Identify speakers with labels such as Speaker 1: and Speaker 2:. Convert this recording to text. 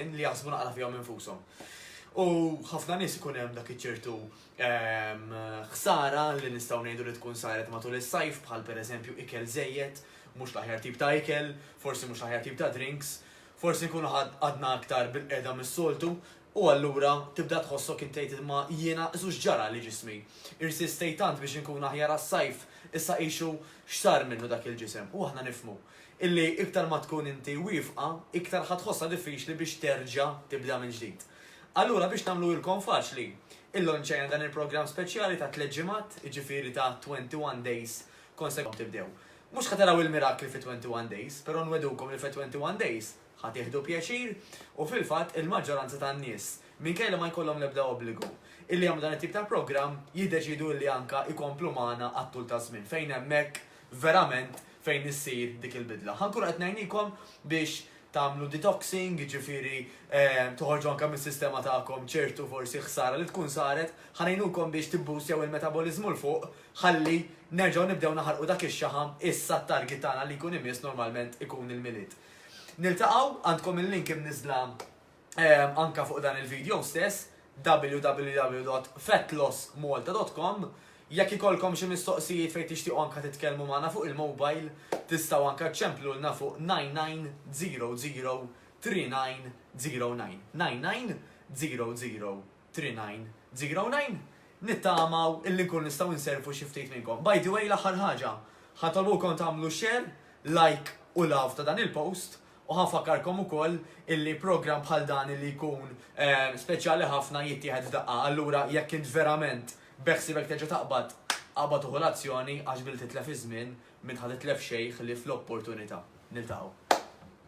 Speaker 1: in li jaħsbu naqra fihom infushom. U ħafna nies ikun hemm dak iċertu ehm, ħsara li nistgħu ngħidu li tkun saret matul is-sajf bħal pereżempju ikel żejjed, mhux l-aħjar tip ta' ikel, forsi mhux l-aħjar tip ta' drinks, forsi nkunu għadna aktar bil-qeda mis-soltu, u allura tibda tħossok intejt ma jiena żux ġara li ġismi. Irsistej tant biex nkun aħjar għas-sajf, issa ixu x'sar minnu dak il-ġisem, u aħna nifmu. illi iktar ma tkun inti wiefqa, iktar ħa tħossha diffiċli biex terġa' tibda mill-ġdid. Allura biex nagħmluhilkom faċli, illonċajna dan il-programm speċjali ta' tliet ġimgħat, jiġifieri ta' 21 days konsecutvi tibdew. Mhux ħa taraw il-mirakli fi 21 days, però nwegħdukom li fi 21 days ħa tieħdu pjaċir u fil-fatt il-maġġoranza tan-nies, minkejja li ma jkollhom l-ebda obbligu, illi jagħmlu dan it-tip ta' programm jiddeċiedu illi anke jkomplu magħna għat-tul taż-żmien fejn hemmhekk verament fejn issir dik il-bidla. Ħa nkunu qed ngħinikom biex tagħmlu detoxing, jiġifieri toħorġu anke mis-sistema tagħkom ċertu forsi ħsara li tkun saret, ħa ngħinukom biex tibboostjaw il-metaboliżmu 'l fuq ħalli nerġgħu nibdew naħarqu dak ix-xaħam issa t-target tagħna li jkun imiss normalment ikun il-Milied. Niltaqgħu, għandkom il-link imniżżla anka fuq dan il-video stess www.fatlossmalta.com Jekk ikolkom xi mistoqsijiet fejn tixtiequ anka titkellmu magħna fuq il-mobile, tistgħu anka ċċemplulna fuq 9900 3909. 9900 Trinajn, Zigrawnajn, nittamaw illi nkunu nistgħu nservu xi ftit minnkom. By the way, l-aħħar ħaġa, ħantolbukom tagħmlu share, like u love ta' dan il-post u ħanfakkarkom ukoll illi programm bħal dan illi jkun speċjali ħafna jittieħed f'daqqa allura jekk int verament beħsiebek terġa' taqbad, aqbad u ħu l-azzjoni għax billi titlef iż-żmien, min ħa titlef xejn ħlief l-opportunità. Niltaqgħu.